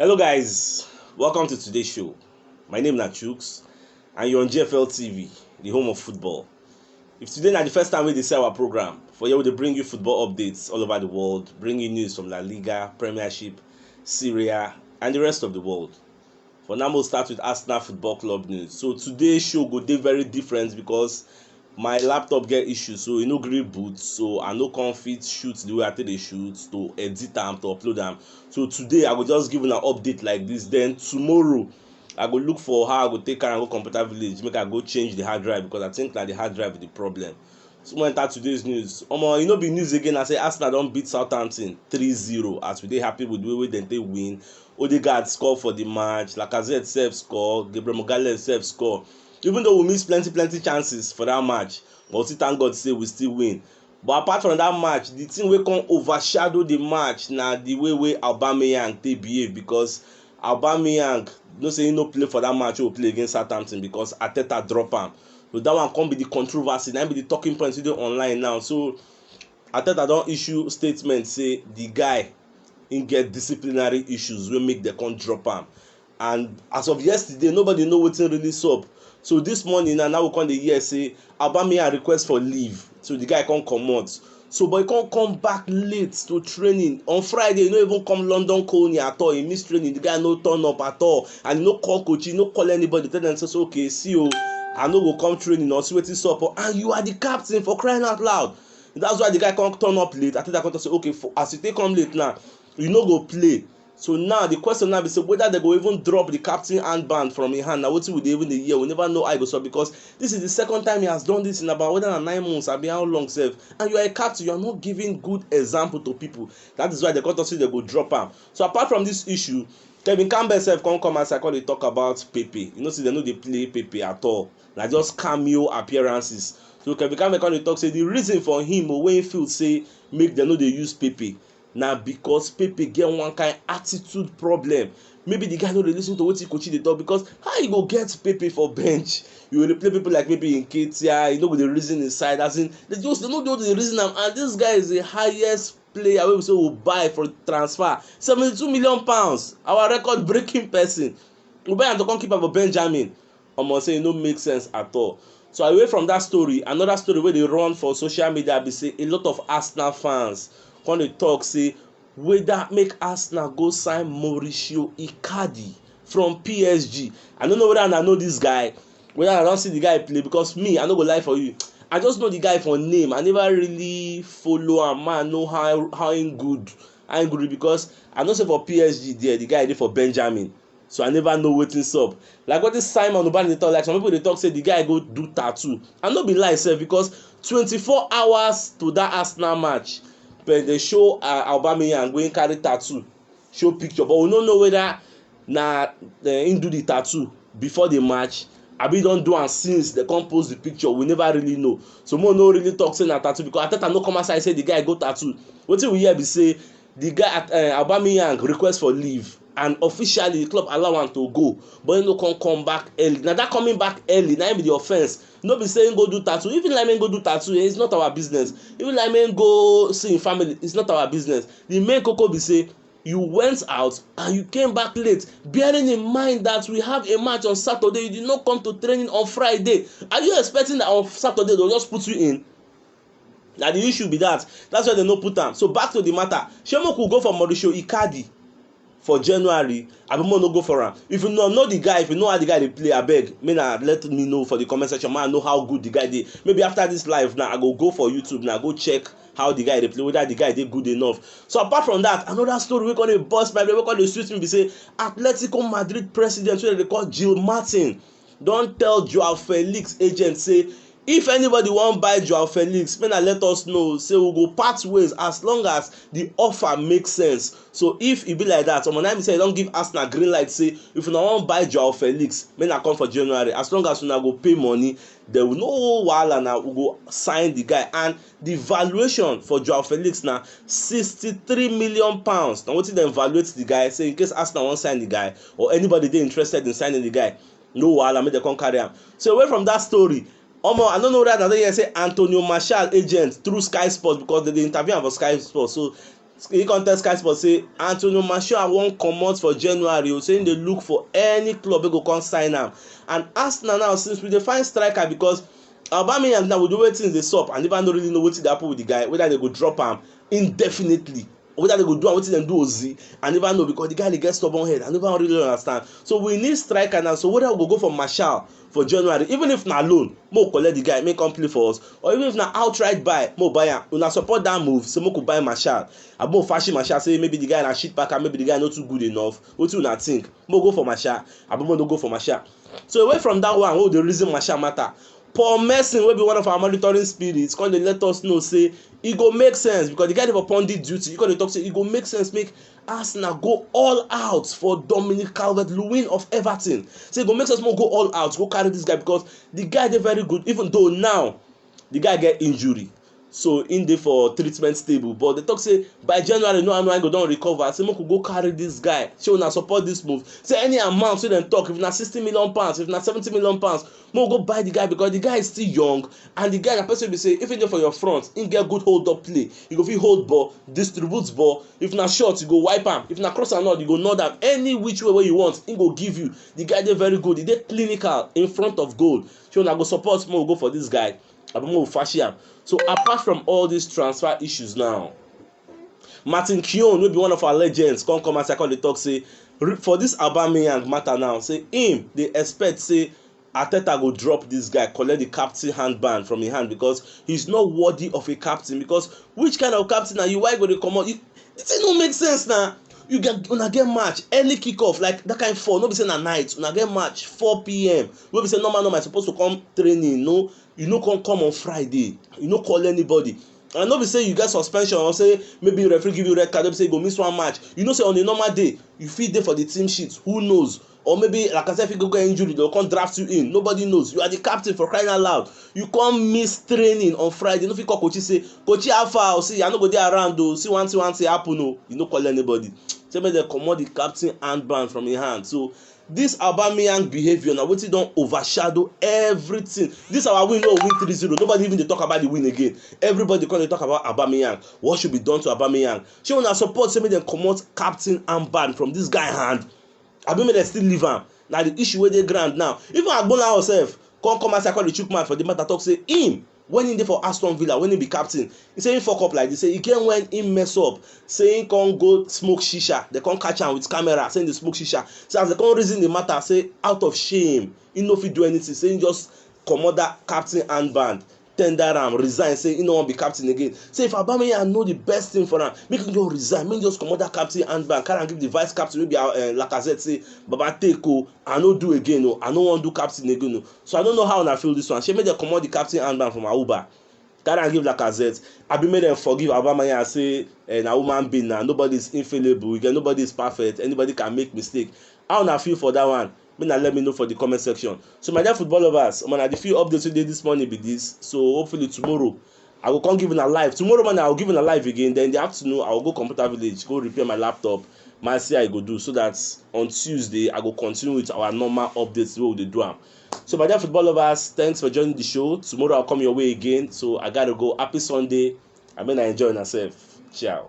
Hello, guys. Welcome to today's show. My name is Nachooks, and you're on GFL TV, the home of football. If today na the first time we dey see our program, for here we dey bring you football updates all over the world, bring you news from La Liga, Premiership, Syria, and the rest of the world. For now make we start with Arsenal football club news. So today show go dey very different because my laptop get issue so e no gree boot so I no come fit shoot the way I take dey shoot to edit am to upload am. So today I go just give una update like this then tomorrow I go look for how I go take carry am go computer village make I go change the hard drive because I think na the hard drive be the problem. So we enter today's news. Omo, e no be news again. I say Arsenal don beat Southampton 3-0 as we dey happy with the way wey dem take win. Odegaard score for the match, Lacazette sef score, Gabriel Magalhaes sef score. Even though we miss plenty plenty chances for that match, but we still thank God say we still win. But apart from that match, the thing wey come overshadow the match na the way wey Aubameyang take behave because Aubameyang no say he no play for that match wey we play against Southampton because Arteta drop am. So that one come be the controversy, na be the talking point today online now. So Ateta don issue statement say the guy im get disciplinary issues wey make dem come drop am and as of yesterday nobody know wetin really sup so this morning na now we come dey hear say aubameyang request for leave so the guy come comot So boy come come back late to training. On Friday, he no even come London Colney at all. He missed training. The guy no turn up at all. And he no call coach, he no call anybody. Tell them, says, okay, see you. Oh, I no go come training or see wetin sup. Oh. And you are the captain for crying out loud. That's why the guy come turn up late. I think I come to say, okay, for, as you take come late now, you no go play. So now the question now be say whether they go even drop the captain armband from im hand na wetin we dey even dey hear we never know how e go sup because this is the second time he has done this in about whether na nine months abi how long sef and you are a captain you are not giving good example to people that is why they come talk say they go drop am so apart from this issue Kevin Campbell sef come come outside come dey talk about Pepe you know say they no dey play Pepe at all na just cameo appearances so Kevin Campbell come dey talk say the reason for him o wey he feel say make dem no dey use Pepe na because Pepe get one kind attitude problem. Maybe the guy no dey lis ten to wetin Kochi dey talk because how you go get Pepe for bench? You go dey play people like maybe Nketiah, you no go dey reason his side as in they just they no just dey reason am and this guy is the highest player wey be say we buy for transfer seventy two million pounds our record breaking person we buy am to come keep am for Benjamin omo sey e no make sense at all. So away from dat story, another story wey dey run for social media be sey a lot of Arsenal fans come dey talk sey whether make Arsenal go sign Mauricio Icardi from PSG. I no know whether una know dis guy, whether una don see the guy play because me I no go lie for you I just know the guy for name I never really follow am make I know how how im good how im good reach because I know sey for PSG there the guy dey for Benjamin So I never know wetin sup. Like wetin Simon Ubani dey talk, like some people dey talk say the guy go do tattoo. And no be lie sef because 24 hours to that Arsenal match, but they show uh, Aubameyang wey carry tattoo, show picture, but we no know whether na uh, him do the tattoo before the match abi don do am since dem come post the picture we never really know so mo no really talk say na tattoo because ateta no come outside say the guy go tattoo wetin we hear be say Di guy at um Aubameyang request for leave and officially di club allow am to go but im no come come back early. Na dat coming back early na im be di offence. No be say im go do tattoo. If im like make im go do tattoo, eh, it's not our business. If im like make im go see im family, it's not our business. Di main koko be say you went out and you came back late bearing in mind that we have a match on Saturday, you did not come to training on Friday. Are you expecting that on Saturday they will just put you in? na the issue be that that's why dem no put am so back to the matter shey make we go for Mauricio Icardi for January abi make we no go for am if you no know the guy if you know how the guy dey play abeg make na let me know for the comment section make I know how good the guy dey maybe after this live now I go go for YouTube now go check how the guy dey play whether the guy dey good enough so apart from that another story wey come dey burst my brain wey come dey sweet me be say Atletico Madrid president wey dem dey call Jill Martin don tell Joao Felix agent say if anybody wan buy Joao Felix make na let us know say we go part ways as long as the offer make sense so if e be like that omo na be say e don give Arsenal green light say if una wan buy Joao Felix make na come for January as long as una go pay money there will no wahala na we go sign the guy and Di valuation for Joao Felix na sixty-three million pounds na wetin dem valuate di guy say in case Arsenal wan sign di guy or anybody dey interested in signing di guy no wahala make dem come carry am. So away from dat story omo I no know whether una don hear say Antonio Martial agent through Sky Sports because dem dey interview am for Sky Sports so He come tell Sky Sports say Antonio Martial wan comot for January o, say him dey look for any club wey go come sign am. And Arsenal now since we dey find striker because Aubameyang now we do wey things dey sup and never no really know wetin dey happen with the guy whether they go drop am indefinitely whether they go do am wetin dem do Ozi I never know because the guy dey get stubborn head I never really understand so we need striker now so whether we go go for Martial for January even if na loan make we collect the guy make come play for us or even if na outright buy make we buy am una support that move say make we buy Martial abi make we fashi Martial say maybe the guy na shit packer maybe the guy no too good enough wetin una think make we go for Martial abi make we no go for Martial so away from that one wey we dey reason Martial matter Paul Merson wey be one of our monitoring spirits come dey let us know say e go make sense because the guy dey for pundit duty he come dey talk say e go make sense make Arsenal go all out for Dominic Calvert-Lewin of Everton. So e go make sense more go all out, go carry this guy because the guy dey very good even though now the guy get injury. So in dey for treatment table but they talk say by January no Anuain go don recover say make we go carry this guy. Shey una support this move. Say any amount wey dem talk if na sixty million pounds if na seventy million pounds Mo go buy the guy because the guy is still young and the guy na person be say if he dey for your front, he get good hold up play. He go fit hold ball, distribute ball. If na shot, you go wipe am. If na cross and all, you go nod am. Any which way wey you want, he go give you. The guy dey very good. He dey clinical in front of goal. So una go support mo go for this guy abi mo fashi am. So apart from all these transfer issues now, Martin Keown wey be one of our legends come come outside come dey talk say for this Aubameyang matter now say him dey expect say Arteta go drop this guy collect the captain handband from him hand because he's not worthy of a captain because which kind of captain na you why you go dey comot you the thing no make sense na you get una get match early kick off like that kind four no be say na night una get match 4pm wey be say normal normal you suppose to come training no you no come come on Friday you no call anybody and no be say you get suspension or say maybe referee give you red card wey be say you go miss one match you know say on a normal day you fit dey for the team sheet who knows or maybe Lacazette fit go get injury they go come draft you in nobody knows you are the captain for crying out loud you come miss training on Friday you no fit call Kochi say Kochi how far o see I no go dey around o see one thing one thing happen o you no call anybody say make dem comot the captain handband from him hand so This Aubameyang behaviour na wetin don overshadow everything. This our win no win 3-0, nobody even dey talk about the win again. Everybody come dey talk about Aubameyang. What should be done to Aubameyang? Shey una support say make dem comot captain armband from this guy hand? Abi make dem still leave am? Na the issue wey dey ground now. Even Agbonlahor sef come come outside come dey chook mouth for the matter talk say him when he dey for Aston Villa when he be captain he say he fuck up like this say he get when he mess up say he come go smoke shisha they come catch am with camera say he dey smoke shisha say as they come reason the matter say out of shame he no fit do anything say he just comot that captain handband tender am resign say he no wan be captain again say if Aubameyang know the best thing for am make him just resign make him just comot that captain handband carry am give the vice captain wey be uh, Lacazette say baba take o oh, I no do again o oh, I no wan do captain again o oh. So I no know how una feel this one. Shey make dem comot the captain handband from Auba, carry am give Lacazette, abi make dem forgive Aubameyang say eh, na human being na nobody is infallible, again nobody is perfect, anybody can make mistake. How una feel for that one? Make na let me know for the comment section. So my dear football lovers, omo na the few updates wey dey this morning be this. So hopefully tomorrow I go come give una live. Tomorrow morning, I will give una live again. Then in the afternoon, I will go computer village, go repair my laptop. Man, see how I go do so that on Tuesday, I go continue with our normal updates where we dey do am. So, my dear football lovers, thanks for joining the show. Tomorrow, I'll come your way again. So, I gotta go. Happy Sunday. I mean, I enjoy myself. Ciao.